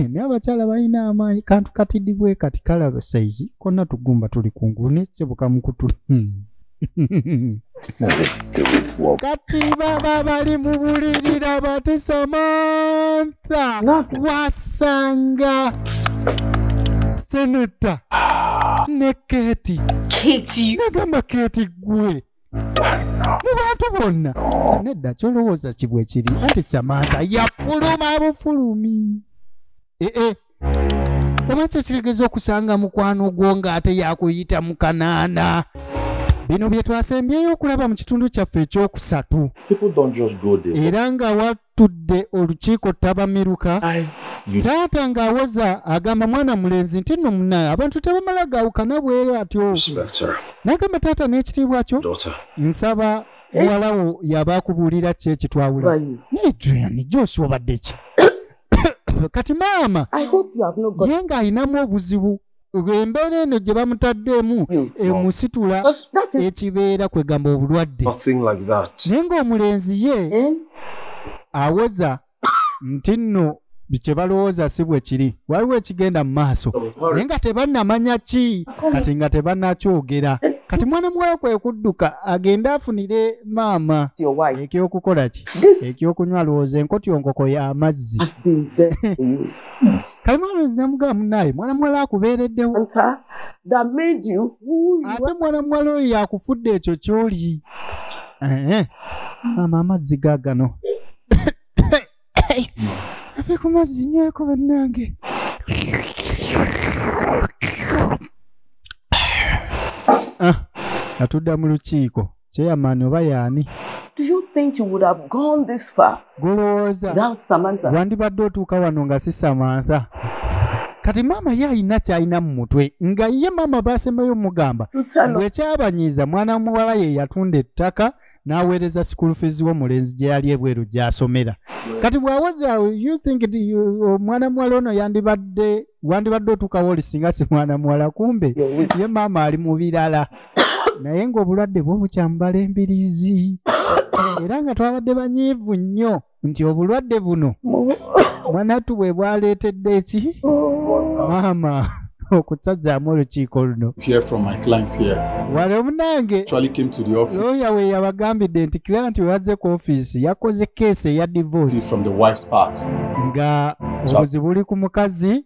naye abakyala balina amaanyi kantu katidibwe kati kalaba saizi konna tugumba tuli kungulu nesebukumukutu hmm. kati baba bali mu bulirira bati samantha wasanga seneta ne keti nagamba keti gwe mu bantu bonna nedda kyolowooza kibwe kiri anti samanta yafuluma bufulumi ee eh, eh. oba kyekiregeza okusanga mukwano gwo ng'ate yakuyita mu kanaana bino bye twasembyeyo okulaba mu kitundu kyaffe ekyokusatu era nga battudde olukiiko ttabamiruka taata ng'awoza agamba mwana mulenzi nti nno munaye abantu tebamala gaawukana bwe atyo n'agamba taata n'ekitiibwa kyo nsaba eh? muwalawo yaba akubuulira ki ekitwawula naye julian josi obadde ki kati maama ye ng'alinamu obuzibu embeera eno gye bamutaddeemu emusitula ekibeera kwegamba obulwadde naye ng'omulenzi ye eh? awoza nti nno kye balowooza si bwe kiri waliwo ekigenda mu maaso naye nga tebannamanya ki kati nga tebannakyogera kati mwana muwala kwe kudduka agende afunire maama ekyokukola ki ekyokunywa alowooza enkotyongoko y'amazzi kalimwalonzi namugaba munaye mwana muwala akubeereddewo ate mwana muwala oyo yakufudde ekyo kyoli maama amazzi gagano ave ku mazzi nyweko bannange ah, atudda mu lukiiko Chairman oba yaani? Do you think you would have gone this far? Golowooza. Without Samantha. Wandibadde otuuka wano nga si Samantha. Kati mama ye alina kyalina mu mutwe nga ye mama basembayo mugamba bwekyabanyiiza mwana muwala ye yatunda ettaka n'aweereza school fees w'omulenzi gye yali ebweru gy'asomera kati bw'awoza you think omwana muwala ono yandibadde wandibadde otuukawo oli singa si mwana muwala kumbe ye maama ali mu birala naye ng'obulwadde bwo bukyamubala embirizi era nga twabadde banyiivu nnyo nti obulwadde buno mwanattu bwe bwaleetedde eki maama okutsazaamu olukiiko luno wali omunange looya we yabagambidde nti client wazze ku ofiisi yakoze keesi eya divorce nga obuzibu buli ku mukazi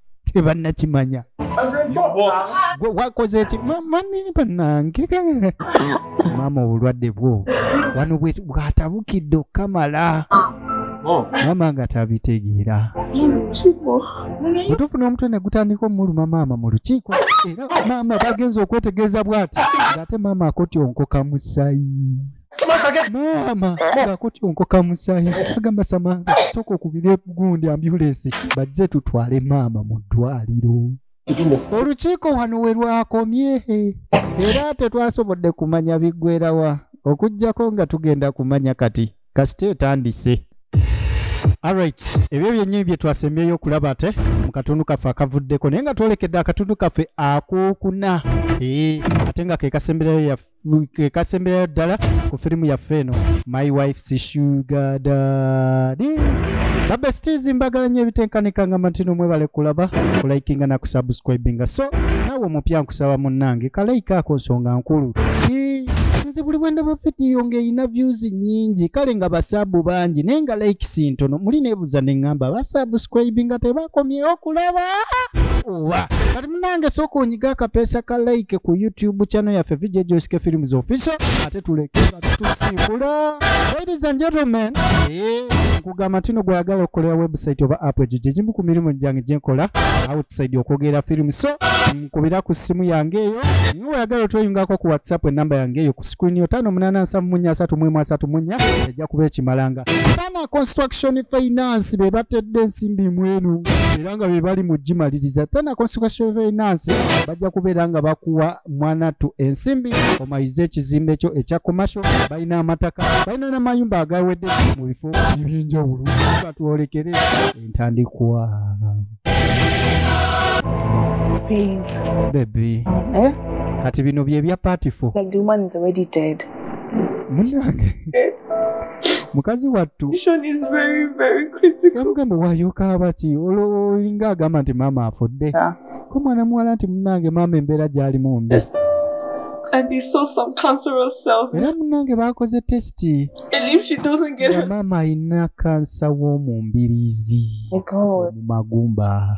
tebannakimanya gwe wakoze eki manini banange maama obulwadde bwo wano bwatabukidde okukamala Oh. maama nga tabitegeera bwetufuna omutwe negutandika omuluma maama mu lukiiko era maama bagenza okwetegeeza bwati ngaate maama akotyonkoka musayi Samantha, get maama nga kutyonkoka musaayi agamba samantha sooka okubire gundi ambulensi bajje tutwale maama mu ddwaliro olukiiko wano we lwakomye era tetwasobodde kumanya biggwerawa okuggyako nga tugenda kumanya kati kasita etandise alright ebyo byennyini bye twasembyeyo okulaba ate mu katundu kaffe akavuddeko naye nga twolekedde akatundu kaffe akokuna ee ate nga ke kasemberayo yaffe kekasemberayo ddala ku firimu yaffe eno my wife sishugadaadi babestizi mbagala nyo ebitenkanika nga matino mwebale kulaba kulaikinga nakusubscribinga so nawe omupya nkusaba munnange kalaika ako nsonga nkulu nze buli bwendaba vidiyo ngaerina views nyingi kale nga basaabu bangi naye nga likes ntono muli nebuuza neŋŋamba basubscribinga tebakomyewo kulaba oba munange sooka onyiga akapeesa ka like ku youtube channel yaffe vijja joske films official ate tulekera tutusimbula ladies and gentlemen eh, nkugamba tino gwagala okukolera website oba app egyo gyegimu ku mirimu gyange gyenkola outside okwogera film so nkubira ku ssimu yange eyo nga weyagala otweyungako ku whatsapp enamba yange eyo ku screen yo tano munana nsamu munya asatu mwemu asatu munya ejja kuba ekimalanga bana construction finance bebatedde ensimbi mwenu nga bebali mu gimaliriza tana constitution of finance bajja kubeera nga bakuwa mwanattu ensimbi omalize ekizimbe kyo ekya commercial balina amataka balina n'amayumba agawedde mu bifo ebyenjawulo batwolekere entandikwa bebi eh? kati bino byebya patifo munange mukazi wattu mugamba wayoka abaki olinga agamba nti maama afudde ko mwana muwala nti munange maama embeera gyali mumbi era munange bakoze tesiti maama alina kansa w'omu mbiriizi mu magumba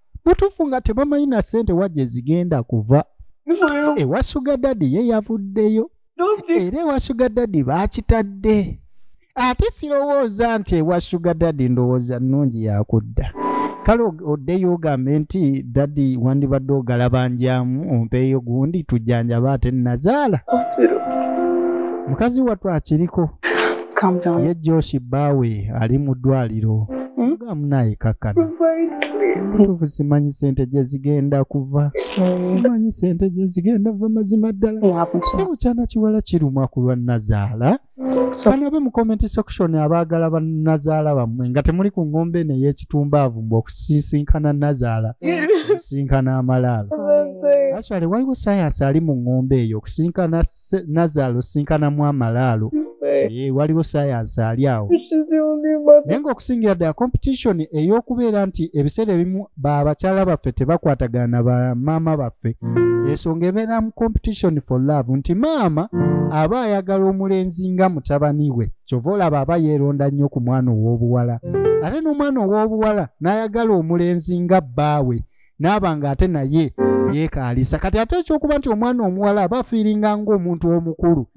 mutufu nga tebamanyi na sente wajja ezigenda kuva ewasuga dadi ye yavuddeyo era ewasuga dadi bakitadde ate sirowooza nti ewasuga dadi ndowooza nnungi yakudda kale oddeyo ogambe nti dadi wandibadde ogalabanjamu ompeeyo gundi tujjanjaba ate nazaala mukazi wattu akiriko Calm down. Ye Josh baawe ali mu ddwaliro. Hmm? Mugamu naye kakkana. Situfu simanyi sente gye zigenda kuva. Hmm. Simanyi sente gye zigenda kuva mazima ddala. Sibu kyana kiwala kirumwa ku lwa nazaala. Bano abe mu comment section abaagala ba nazaala bammwe nga temuli ku ngombe eno ey'ekitumbaavu mbu okusisinkana nazaala okusinkana amalaalo. Aswale waliwo sayansi ali mu ngombe eyo okusinkana se- nazaalo sinkanamu amalaalo Eh, waliwo sayansi ali awo naye ng'okusingira ddala competition ey'okubeera nti ebiseera ebimu ba bakyala baffe tebakwatagana na ba maama baffe ensonga ebeera mu competition for love nti maama aba ayagala omulenzi nga mutabani we kyova olaba aba yeeronda nnyo ku mwana ow'obuwala ate n'omwana ow'obuwala n'ayagala omulenzi nga bbaawe naaba nga ate naye yeekaalisa kati ate ekyokuba nti omwana omuwala aba afiiringa ng'omuntu omukulu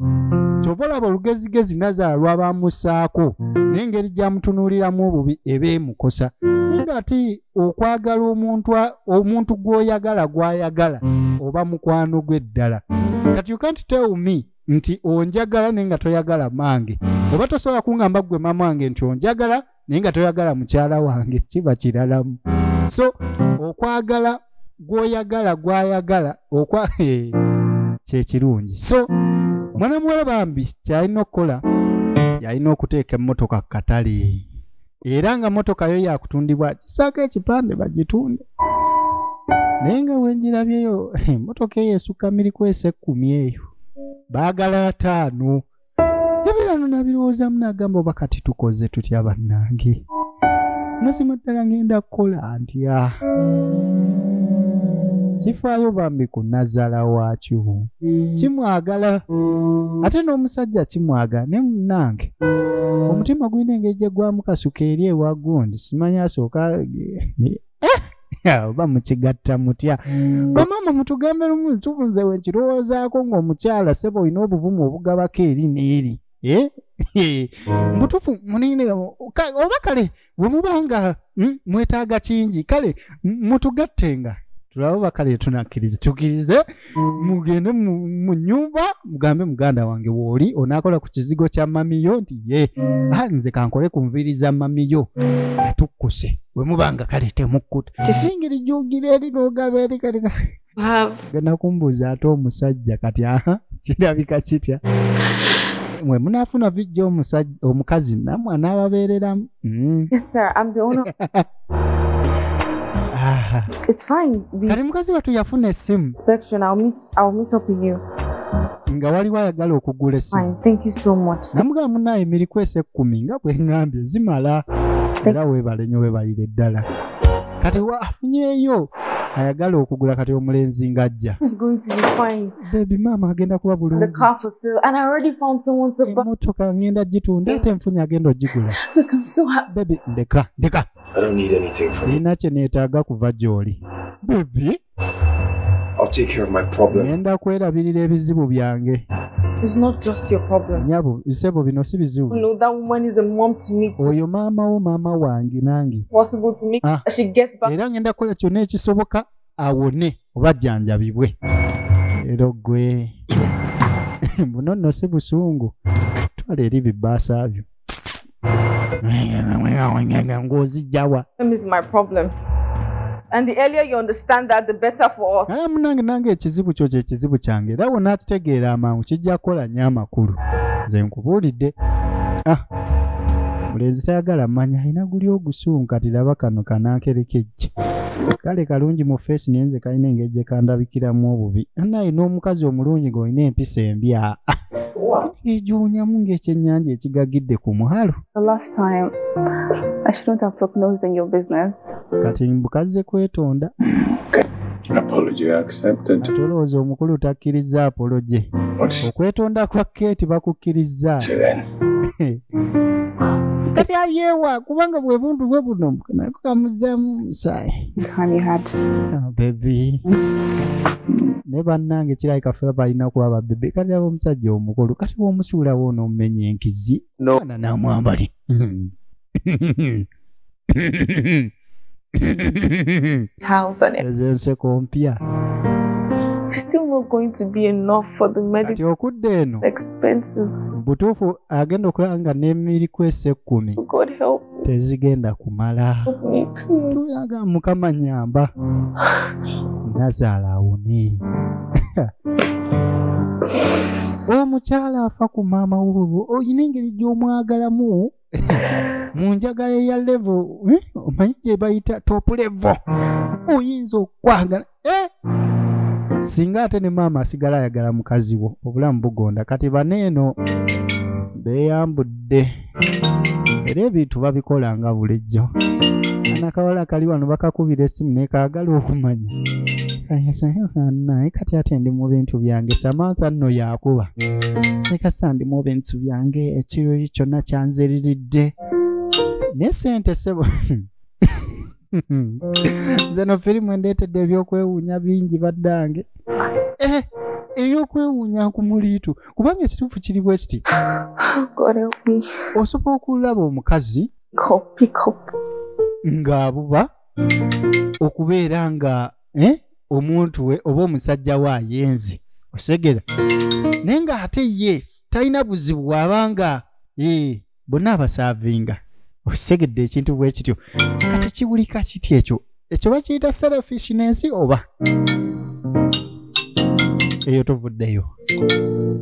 kyova olaba olugezigezi nazaala lwabamusaako n'engeri gyamutunuuliramu obubi eba emukosa nayenga ati okwagala omuntu omuntu gw'oyagala gw'ayagala oba mukwano gwe ddala kati you can't tell me nti onjagala naye nga toyagala mange oba tosobola kungamba ggwe maama wange nti onjagala naye nga toyagala mukyala wange kiba kiralamu so okwagala gwoyagala gwayagala okwa eh, kyekirungi so mwana muwala bambi kyalina okukola yalina okuteeka emmotoka ku katale era nga motoka yo yakutundibwa kisaako ekipande bagitunde naye nga wenjirabyeyo eh, motoka eyo esukka mirikwesa ekkumi eyo baagala ataano ebibeera no nabirowoozamu n'agamba oba kati tukoze tutya bannange mazima ddala ngenda kukola ntya kifaayo bambi ku nazaala waakyo kimwagala ate n'omusajja kimwagala ne munnange omutima gulina engeri gye gwamukasuka eri ewagundi simanya asooka oba mukigatta mutya bamaama mutugambe lumu ntufu nze wenkirowoozaako ng'omukyala seba olina obuvumu obugabako eri n'eri eh? mutufu munene oba kale wemubanga hmm, mwetaaga kingi kale mutugattenga tulaba oba kale tunakkiriza tukkirize mugende mu- mu nyumba mugambe muganda wange wooli onaakola ku kizigo kya mamiyo nti ye ah, nze kankole ku nviiri za mamiyo atukkuse we mubanga kale temukkuta sifingiri jugire eri n'ogaba eri kati ka- Babe, genda kumbuuza ate omusajja kati aha kirabika kitya mwe munaafuna vijja omusajja- omukazi namwe anaababeereramu mm. yes, sir. I'm the owner. Aha. It's, it's fine. We kati mukazi wattu yafuna essimu inspection. I'll meet. I'll meet up with you. nga waliwo ayagala okugula essimu Fine. Thank you so much. namugamba munaaye mirikwesa ekkumi nga bwe ŋŋambye zimala era weebale nyo weebalire ddala kati wa afunyeeyo ayagala okugula kati omulenzi ng'ajja It's going to be fine. bebi maama agenda kuba bulungimotoka ngenda gitunda ate enfunyi agenda ogigula bebi ndeka ndeka sirina kye neetaaga kuva gy'oli bebi ngenda kwerabirira ebizibu byange It's not just your problem. Nyabo, isebo bino si bizibu. No, that woman is a mom to me. Oyo mama wo mama wange nange. Possible to me. Ah. She gets back. Era ngenda kola kyona ekisoboka awone oba ajjanjabibwe era ogwe buno nno si busungu twala eri bibaasa byo ng'ozijjawa munange nange ekizibu kyo kyekizibu kyange era wona akitegeera amangu kijja kukola nyo amakulu nze nkubuulidde ah, mulenzi tayagala manya alina guli ogusuunka tilaba kano kanankerekejje kale kalungi mu feesi naye nze kalina engeri gye kandabikiramu obubi naye n'omukazi omulungi ng'olina empisa embi aa egiwunyamu ng'ekyennyanja ekigagidde ku muhalo kati mbukazze kwetonda tolowooza omukulu takkirizza apoloje okwetonda kwa keeti bakukkirizza kati alyewa kubanga bwe buntu bwe buno nako kamuzzamu omusaayi It's honey hot. Ah, bebi naye bannange kirabika ffe balina kuba babebe kati aba omusajja omukulu kati bwomusuulawo onoomumenya enkizi No. ana namwambali thousand. ezo enseko mpya It's still not going to be enough for the kati medical okudda eno expenses. mu butuufu agenda okulaba nga n'emiri kwesa ekkumi God help tezigenda kumala me, please. tuyaga mukama nyamba nazaala awone omukyala afa ku maama wobwo olina engeri gy'omwagalamu mu njagala eya levo eh, omanyi gye bayita top levo oyinza okwagala eh? singa ate ne maama asigala ayagala mukazi wo obulamu bugonda kati baneeno beeyambudde era ebintu babikola nga bulijjo anakawala kali wano bakakubira essimu nekaagala okumanya naye kati ate ndi mu bintu byange samantha nno yakuba nekasa ndi mu bintu byange ekiriri kyonna kyanziriridde naye sente sebo nze no firimu endeetedde ebyokwewuunya bingi baddange eh, eyokwewuunya ku muliitu kubanga ekituufu kiri bwe kiti osobola okulaba omukazi ng'abuba okubeera nga eh, omuntu we oba omusajja we ayenze osegera naye nga ate ye talina buzibu waba nga eh, bonna abasaavinga osegedde ekintu bwekityo kati kiwulika kiti ekyo ekyo bakiyita selfish nensi oba eyo tuvuddeyo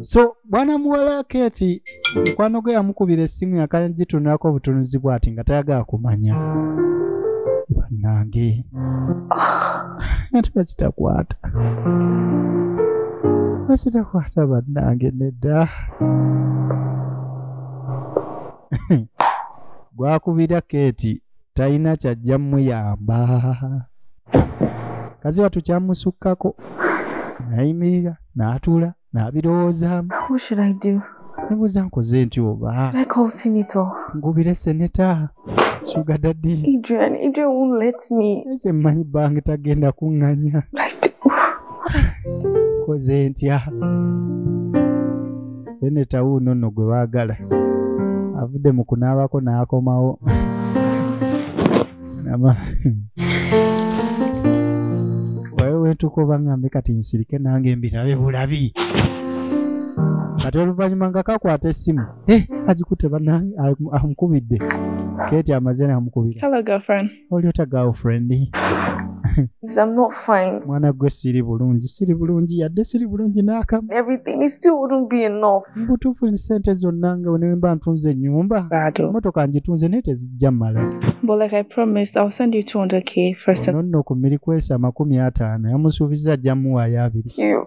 so bwana muwala keti mukwano gwe yamukubira essimu yakagitunulako obutunuzi bwati nga tayagala kumanya bannange ati bakitakwata bakitakwata bannange nedda gwakubira keti talina kyajja muyamba kazi watu kyamusukkako nayimirira n'atuula n'abirowoozaamu nebuuza nkoze nti oba ngubire seneta sugadadi ekyo mmanyi bange tagenda kuŋŋanya koze ntya seneta wuuno nno gwe baagala avudde mu kunaabako n'akomawo wayo wentuuka oba ngambe kati nsirike nange mbirabe bulabi kati oluvannyuma nga kakwata essimu eh, agikute banange amukubidde keti amaze namukubira oli otya girlfriend Because I'm not fine. mwana gwe siri bulungi siri bulungi yadde siri bulungi n'akamu Everything it still wouldn't be enough. mbutuufu ni sente zonna nga wenemba ntunze ennyumba Bado. emotoka ngitunze naye tezijja mala But like I promised, I'll send you 200k first. nonno ku mirikwesa amakumi ataano yamusuubizza ajja muwaayo abiri You.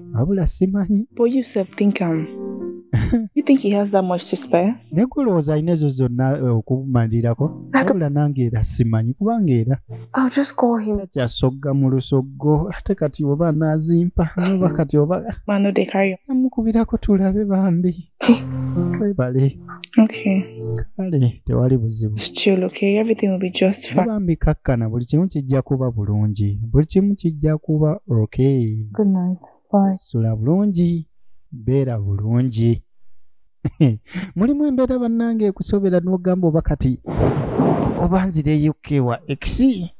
abula simanyi naye gwolowooza alina ezo zonna eh, okumalirako abula nange era simanyi kubanga era kyasogga mu lusoggo ate kati oba anazimpa noba kati oba amukubirako tulabe bambi webale Okay. Kale tewali buzibu. Still okay, everything will be just fine. Bambi kakkana buli kimu kijja kuba bulungi. Buli kimu kijja kuba okay. Good night. Bye. Sula bulungi. Beera bulungi. Mulimu embeera bannange ekusobera n'ogamba oba kati oba nzireyo kewa ekisi.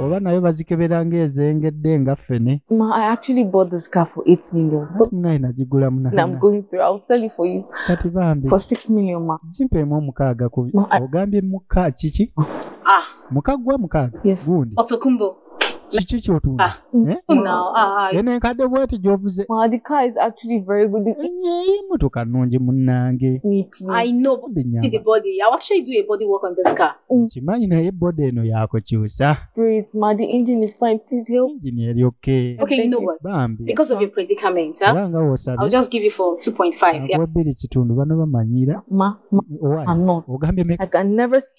oba nayo bazikebera ng'ezengedde nga ffene munaye nagigula munakati bambi kimpeemu omukaaga ku ogambye muka kiki ah. muka gwa mukaaga gundi kiki kyotunda ah. Eh? No, no, ah, eno enkadde bweti gyovuze enyeyi motoka nungi munange nkimanyi naye body eno yakukyusa engine eri okbambibanga wosabewebiri kitundu bano bamanyira ogambye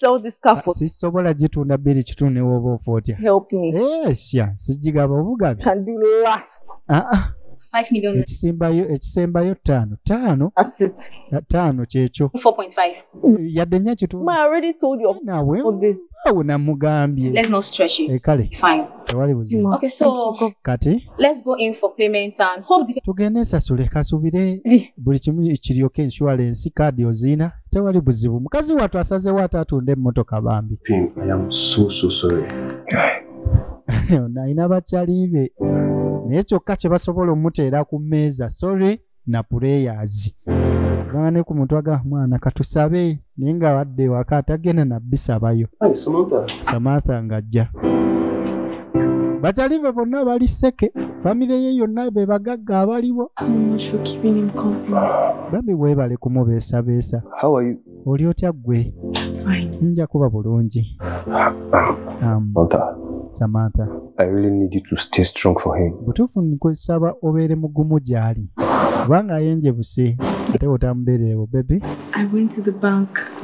sell this car for sisobola gitunda biri kitu ne woba ofa otya help me eh sha sijigaba obugabi can do last ah ah ekisembayo ekisembayo ttaano ttaano ttaano kyekyo yadde nya kitunaawe namugambye kale tewali buzibu okay so kati let's go in for payment and hope the tugende sasule kasubire buli kimu kiryoke insurance card ozina tewali buzibu mukazi watu asaze watu atunde motoka bambi pink i am so so sorry naina bachalibe naye kyokka kye basobola omuteera ku mmeeza sorry na prayers gamba ne ku muntu aga mwana katusabe naye nga wadde waka atagenda nabisabayo samantha ng'ajja bakyali be bonna bali seke famire ye yonna be bagagga abaliwo bambi weebale kumubeesabeesa oli otya ggwe nja kuba bulungi um, samantha butuufu nkusaba obeere mugumu gy'ali kubanga ayenje buse ate otamubeererewo bebi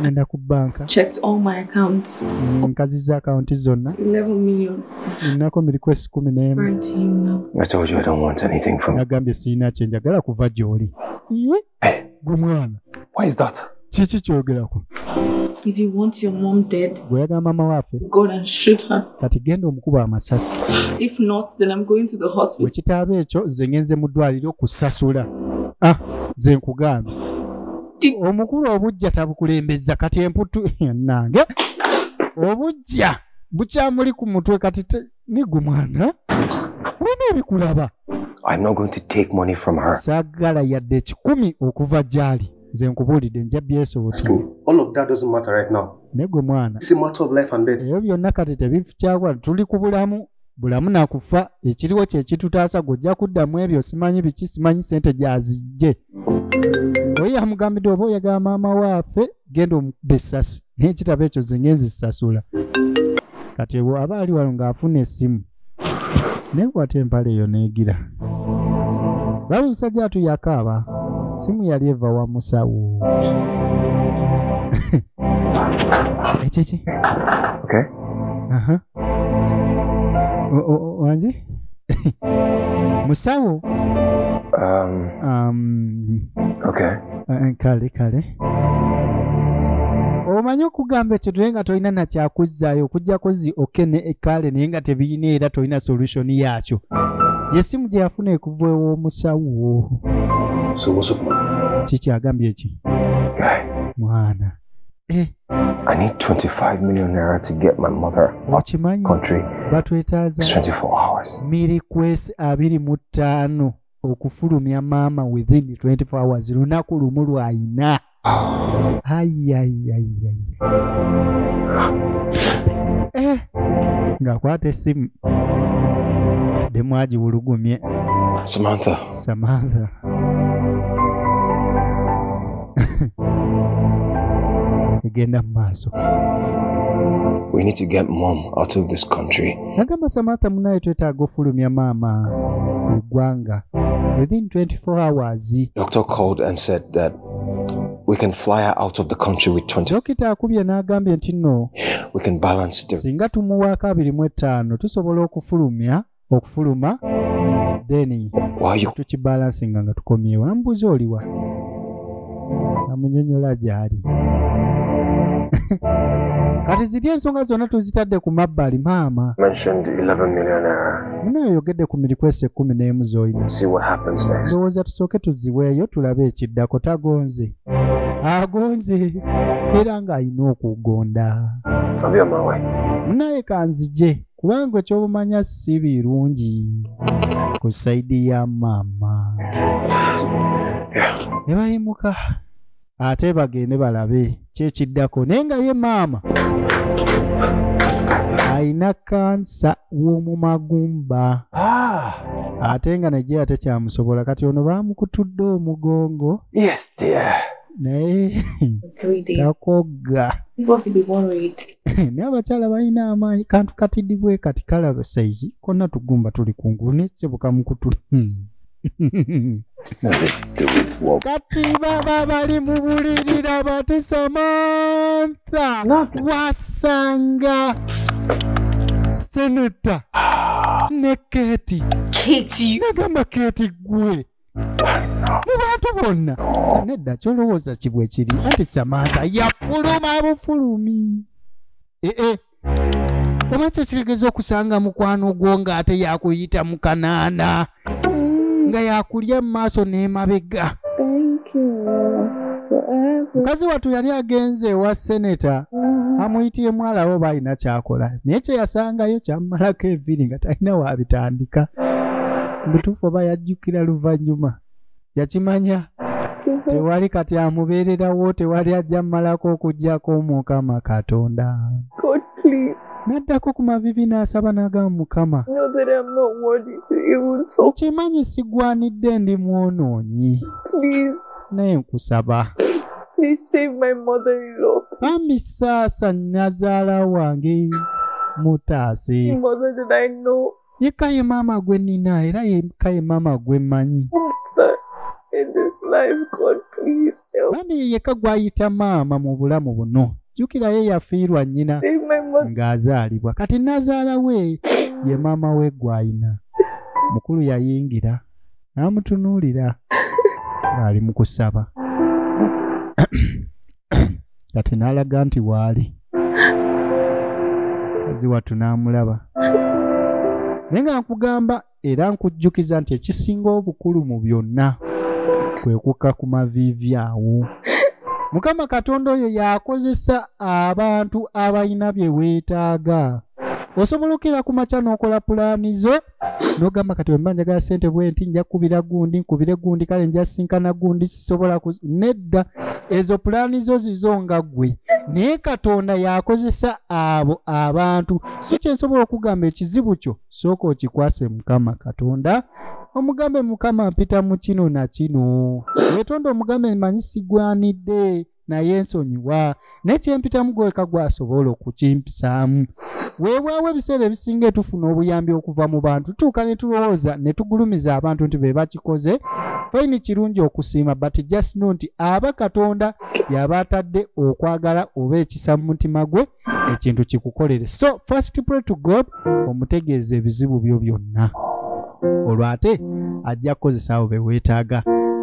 ngenda ku banka nkaziza akawunti zonna nnako miriko esi kumi n'emu nagambye sirina kyenjagala kuva gy'oli Eh. Gwe mwana. Why is that? Kiki kyogerako? If you want your mom dead, bweyagamba mama wafe go and shoot her. Kati genda omukuba amasasi. If not, then I'm going to the hospital. Wekitaaba ekyo nze ngenze mu ddwaliro okusasula. Ah, nze nkugambye. Omukulu obujja tabukulembeza kati emputtu nange. Obujja bukyamuli ku mutwe kati nigwe mwana wena ebikulaba sagala yadde ekikumi okuva gyali nze nkubuulidde nja byesobosanegwe mwana ebyo byonna kati tebikyakola tuli ku bulamu bulamu nakufa ekiriwo kyekitutaasa gwe ojja kuddamu ebyo simanyi biki simanyi sente gyazijje oyo yamugambidde oba oyagala maama waafe genda omukube essasi naye ekitabo ekyo ze ngenzi sasula kati ewo aba ali wano ng'afuna essimu naye kwata empale eyo neegira laba omusajja atu yakaaba simu yali eva wa musawo ekyeki wangi musawo um, um, okay. Eh, kale kale omanyi okugamba ekyo naye nga tolina nakyakuzzaayo okujjako zi oke ne ekaale naye nga tebirina era tolina solution yaakyo yesimu gye yafuna ekuva ew'omusawo kikyagambye ki mwana Eh. I need 25 million naira to get my mother okimanyi batwetaaza miri kwesi abiri mu ttaano okufulumya maama within 24 hours lunaku lumu lwayina ayayayaya eh. ng'akwata essimu demwagiwulugumye samantha Samantha. egenda mu maaso We need to get mom out of this country. nagamba samantha munaye twetaaga ofulumya maama eggwanga within 24 hours Doctor called and said that we can fly her out of the country with 20. dokita akubye n'agambye nti nno We can balance the singa tumuwaako abiri mu ettaano tusobola okufulumya okufuluma then tukibalansinga nga tukomyewo namubuuza oliwa amunyonyola gyali kati ziri ensonga zonna tuzitadde ku mabbali maama muna oyogedde ku mirikwesi ekkumi n'emu z'olina ndowooza tusooke tuziweeyo tulabe ekiddako tagonze agonze era ng'alina okugonda munaye kanzije kubanga ekyobumanya si birungi ku saidi ya maama ne bayimuka ate bagende balabe kyekiddako naye nga ye maama alina kansa w'omu magumba ah! ate nga naye ate kyamusobola kati ono baamukutudde omugongo naye takogga naye abakyala balina amaanyi kantu katidibwe kati kalaba saizi konna tugumba tuli kungulu nesebukamakutul hmm. kati baba bali mu bulirira bati samantha wasanga seneta ne keti nagamba keti gwe mu bantu bonna nedda kyolowooza kibwe kiri anti samanta yafuluma bufulumi ee eh, eh. oba kyekiregeza okusanga mukwano gwo ng'ate yakuyita mu kanaana nga yakulya mu maaso n'emabega mukazi wattu yali agenze ewa seneta amuyitiye mwalawo oba alina kyakola naye kyeyasangayo kyamumalako eviri nga talina waabitandika mubutuufu oba yajjukira luvannyuma yakimanya tewali kati amubeererawo tewali ajja mumalako okujjako mukama katonda n'addako ku mavivi n'asaba n'agamba mukama okimanyi sigwanidde ndi mwonoonyi naye nkusaba bambi saasa nnazaala wange mutaase yekka ye maama gwe nina era yekka ye maama gwe mmanyi bambi ye yekka gwayita maama mu bulamu buno jjukira ye yafiirwa nnyina ng'azaalibwa kati nazaala we ye maama we gwayina mukulu yayingira n'amutunuulira ng'ali mu kusaba kati n'alaga nti waali kazi wattu n'amulaba naye nga nkugamba era nkujjukiza nti ekisinga obukulu mu byonna kwe kukka ku maviivi awo mukama katonda oyo yakozesa abantu abalina bye weetaaga osobola okera ku makya n'okola pulaani zo nogamba kati wemba njagala sente bwenti nja kubira gundi nkubire gundi kale nja sinkana gundi sisobola nedda ezo pulaani zo zizo nga gwe naye katonda yakozesa abo abantu so kyensobola okugamba ekizibu kyo sooka okikwase mukama katonda omugambe mukama mpita mu kino na kino wetonda omugambe manyi sigwanidde naye nsonyiwa naye kyempitamu gweweka gwasobola okukimpisaamu weewaawo ebiseera ebisinga etufuna obuyambi okuva mu bantu tuuka ne tulowooza ne tugulumiza abantu nti be bakikoze faini kirungi okusiima but just no nti aba katonda yaba atadde okwagala oba ekisa mu mutima gwe ekintu kikukolere so first pray to god omutegeeza ebizibu byo byonna olwo ate ajja kukozesa abo beweetaaga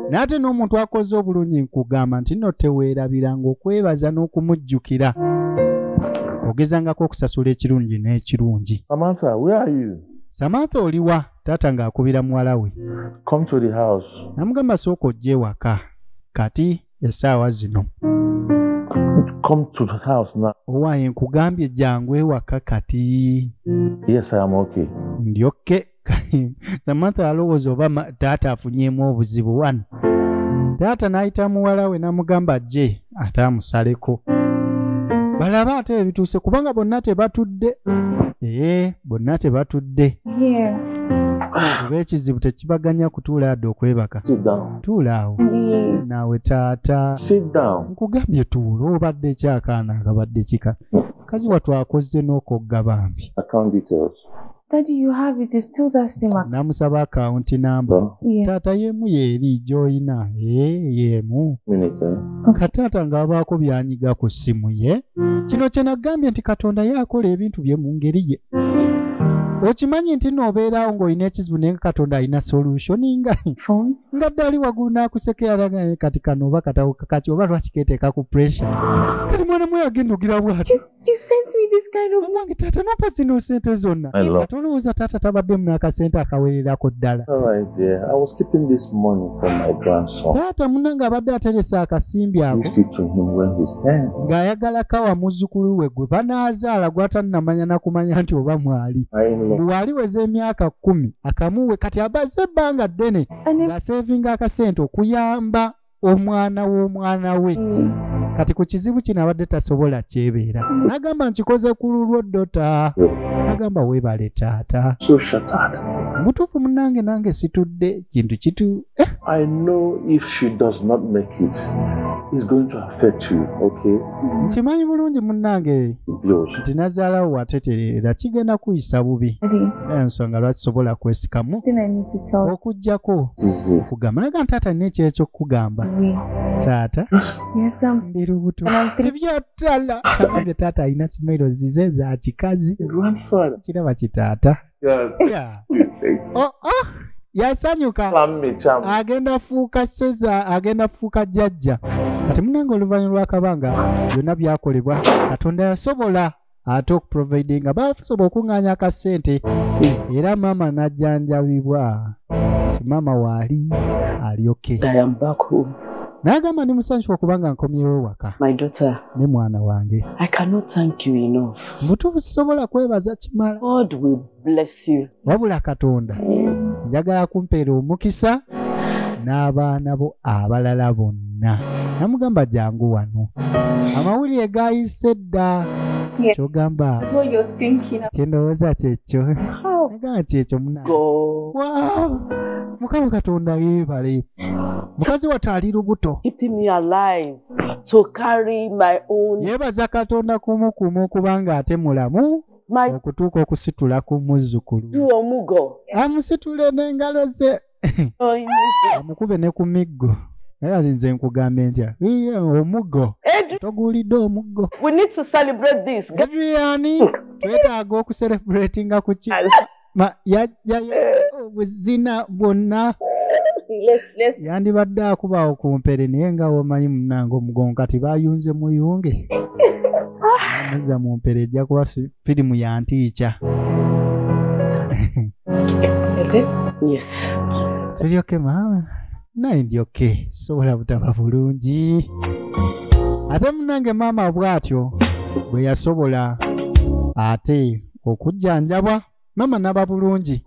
naye ate n'omuntu akoze obulungi nkugamba nti no teweerabiranga okwebaza n'okumujjukira ogezangako okusasula ekirungi n'ekirungi samantha oliwa taata ng'akubira muwala we namugamba sooka ojja ewaka kati esaawa zino come to the house now. Owaye nkugambye jangu ewaka kati. Yes, I am okay. Ndi okay. Samantha alowooza oba taata afunyeemu obuzibu wano. Taata n'ayita muwala we n'amugamba ajje ate amusaleko. Balaba ate ebituuse kubanga bonna tebatudde. Ee, bonna tebatudde. Oba ekizibu tekibaganya kutuula adde okwebaka. tuula awo naawe taata nkugambye tuula obadde ekyakaana akabadde kika kazi watu akozze n'okogga bambi namusaba akawunti namba taata yemu yeeri gyolina eh, yemu kataata ng'abaako byanyiga ku ssimu ye kino kyenagambye nti katonda ye akola ebintu bye mu ngeri ye okimanyi nti noobeerawo ng'olina ekizibu naye nga katonda alina solution nga nga ddali wagulu n'akusekearaga kati kano oba katawo kakaki oba lwaki keteeka ku pressure kati mwana mwe agenda ogira bwati nange taata nompa zino sente zonna kati olowooza taata tabaddemu n'akasente akawererako ddala taata munange abadde ateresa akasimbi ako ng'ayagala kawa muzzukulu we gwe banaazaala gwatanamanya nakumanya nti oba mwali bwewali weza emyaka kkumi akamuwe kati abaze ebbanga ddene ng'aseevinga akasente okuyamba omwana w'omwana we mm. kati ku kizibu kino abadde tasobola kyebeera nagamba nkikoze ku lulwo dota nagamba webale taata mutuufu munange nange situdde kintu kitu Eh? I know if she does not make it, it's going to affect you, okay? Nkimanyi bulungi munnange nti nazaalawo watetereera kigenda kuyisa bubi naye nsonga lwaki sobola kwesikamu okujjako kugamba naga ntaata nina ekyekyokugamba taata ndi lubuto ebyotala bye taata alina simairo zize za kikazi kiraba kitaata Oh, oh, yasanyuka agenda fuuka seza agenda fuuka jajja kati munange oluvanyu lwakabanga byonna byakolebwa katonda yasobola ate okuproviding nga basobola okuŋŋanya akasente era maama najjanjabibwa nti maama waali alyoke n'agamba ndi musanyufu okubanga nkomyewo waka ne mwana wange mutuufu sisobola kwebaza kimala wabula katonda njagala kumpeera omukisa n'abaana bo abalala bonna namugamba jangu wano amawulire gayise dda kyogamba kyendowooza kyekyo nagaa nti ekyo muna mukama katonda yeebale mukazi watali lubuto to carry my own yebaza katonda kumu kumu kubanga ate mulamu okutuuka okusitula ku muzzukulu omugo amusitule n'engalo ze amukube ne ku miggo era nze nkugambye ntya omugo toguulidde omugo twetaaga okuserebratinga ku ki Ma- ya- ya- ya- obuzina bwonna See, let's let's yandibadde akubaawo ku mpere naye nga womanyi munange omugongo kati bayunze muyunge amuzza mu mpere ejja kuba fi- firimu ya ntiica yes tuli oke maama naye ndi oke sobola butaba bulungi ate munange maama bw'atyo bwe yasobola ate okujjanjabwa mama naba bulungi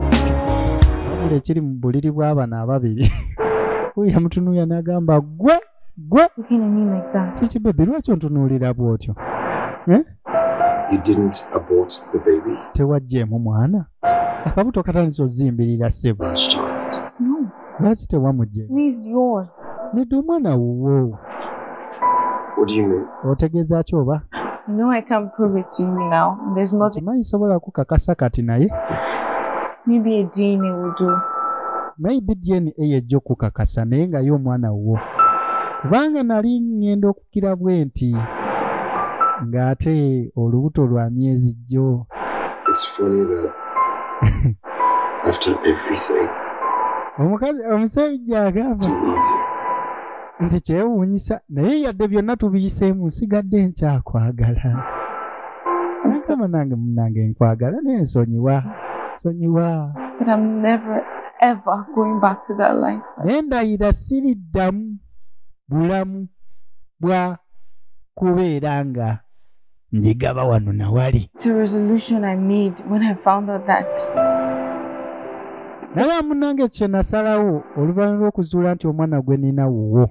wabula ekiri mu buliri bw'abana ababiri uyo amutunuulira n'agamba gwe gwe kiki bebi lwaki ontunuulira bw'otyo eh? tewajjeemu mwana akabuto katandisa ozimbirira sebo lwaki tewamugye nedda omwana wuwo otegeeza ki oba kimanyi sobola kukakasa kati naye maybe dna yejja okukakasa naye ngaye omwana wuwo kubanga nali ŋŋenda kira bwenti ng'ate olubuto lwa myezi jjo omukazi omusajja agamba nti kyewuunyisa naye yadde byonna tubiyiseemu nsigadde nkyakwagala nasaba nange munange nkwagala naye nsonyiwa sonyiwa naye ndayira siriddamu bulamu bwa kubeera nga njigaba wano nawali naye amunange kye nasalawo oluvannyuma lw'okuzuula nti omwana gwe nina wuwo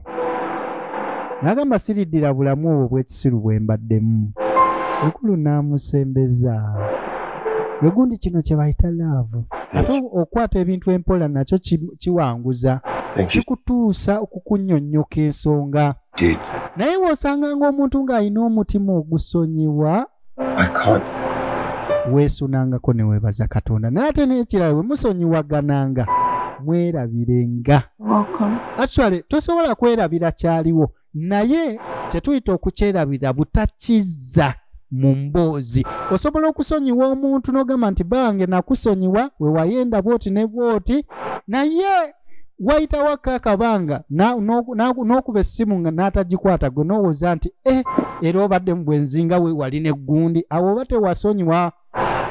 nagamba siriddira bulamu obwo bw'ekisiru bwe mbaddemu ekulu n'amusembeza egundi kino kye bayita laavu ate okukwata ebintu empola nakyo kiwanguza kikutuusa okukunyonnyoka ensonga naye w'osanga ng'omuntu ng'alina omutima ogusonyiwa weesunangako ne weebaza katonda naye ate n'ekirala bwe musonyiwagananga mwerabirenga aswale tosobola kwerabira kyaliwo naye kyetuyita okukyerabira butakizza mu mboozi osobola okusonyiwa omuntu n'ogamba nti bange nakusonyiwa wewayenda bwoti ne bwoti naye wayitawo akakabanga n'okuba essimu nga n'atagikwata gwe n'owooza nti e era obadde mu bwenzinga wewali n'eggundi awo oba tewasonyiwa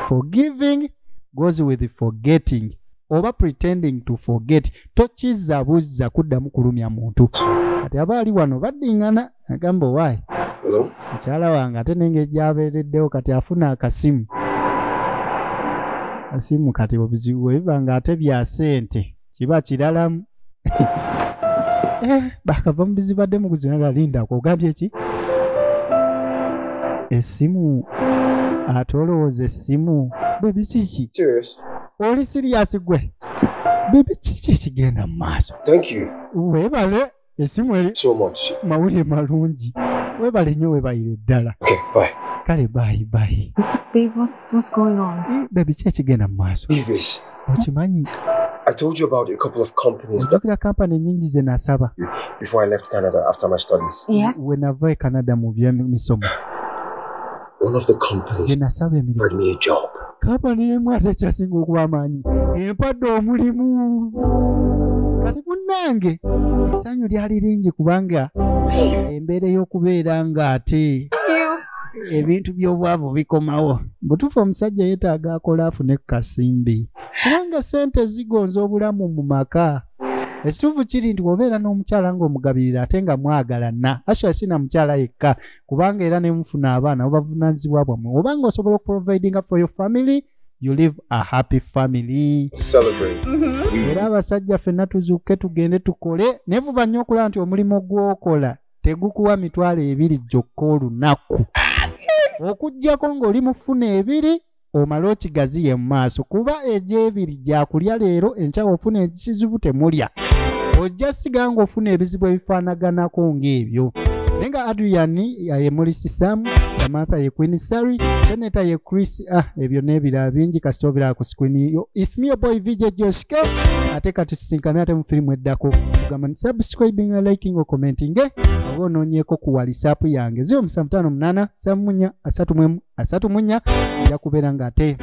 forgiving goes with forgetting oba pretending to forget tokiza buzza kuddamu kulumya muntu kati aba ali wano baddingana agamba owaayi mukyala wange ate nenge gyabeereddewo kati afuna akasimu asimu kati obuzibu bwebiba nga ate bya sente kiba kiralamu Eh, bakava mu bizibu adde mukuzina nga lindako ogambye ki essimu ate olowooza essimu bebi kiki oli siriyasi gwe bebi kiki ekigenda mu maaso webale esimu eri so much mawulire malungi webale nyo webayire ddala okay, bye. kale bayi bayi hmm, bebi ki ekigenda mu maaso okimanyi I told you about a couple of companies that kila company nyingi ze nasaba before I left Canada after my studies. Yes. When I went Canada mu bya misomo. one of the companies offered me a job. Company emu ate kyasinga okuba amaanyi empadde omulimu kati munnange essanyu lyali lingi kubanga embeera ey'okubeera ng'ate ebintu by'obwavu bikomawo butuufu omusajja yeetaaga akola afune ku kasimbi kubanga ssente zigonza obulamu mu maka ekituufu kiri nti wobeera n'omukyala ng'omugabirira ate nga mwagalana asha sina mukyala yekka kubanga era nemufuna abaana obavunanyizibwa bwammwe obanga osobola okuprovidinga for your family you live a happy family mm-hmm. era abasajja fenna tuzuuke tugende tukole nevuba nnyo okulaba nti omulimu gwokola tegukuwa mitwalo ebiri gyokka olunaku okujjako ng'oli mufuna ebiri omale okigaziye mu maaso kuba egyebiri gyakulya leero enkyawa ofuna ekizibu temulya ojja siga nga ofuna ebizibu ebifaanaganako ng'ebyo naye nga adrian ye mulisi sam samantha ye queen sary seneta ye chris ah ebyo n'ebirala bingi kasita obiraba ku sikwini yo ismio boy vj joske ate katusisinkane ate mu firimu eddako ogamba ni subscribing liking o commenting eh? oba onoonyeeko ku walisaapu yange 0 3 8 3 4 3 8 asatu mu nnya nja kubeera ng'ate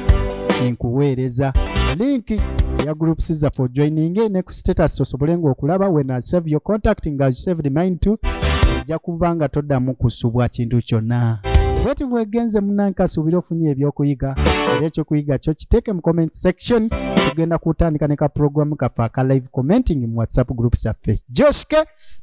enkuweereza linki eya groups za for joining ne ku status osobole ng'okulaba when I save your contact nga saved mine too ojja kuba nga toddamu kusubwa kintu kyonna bweti bwegenze munanka asuubire ofunye ebyokuyiga era ekyokuyiga kyo kiteeke mu comment section tugenda kutandika ne ka program kaffe aka live commenting mu whatsapp groups affe joshke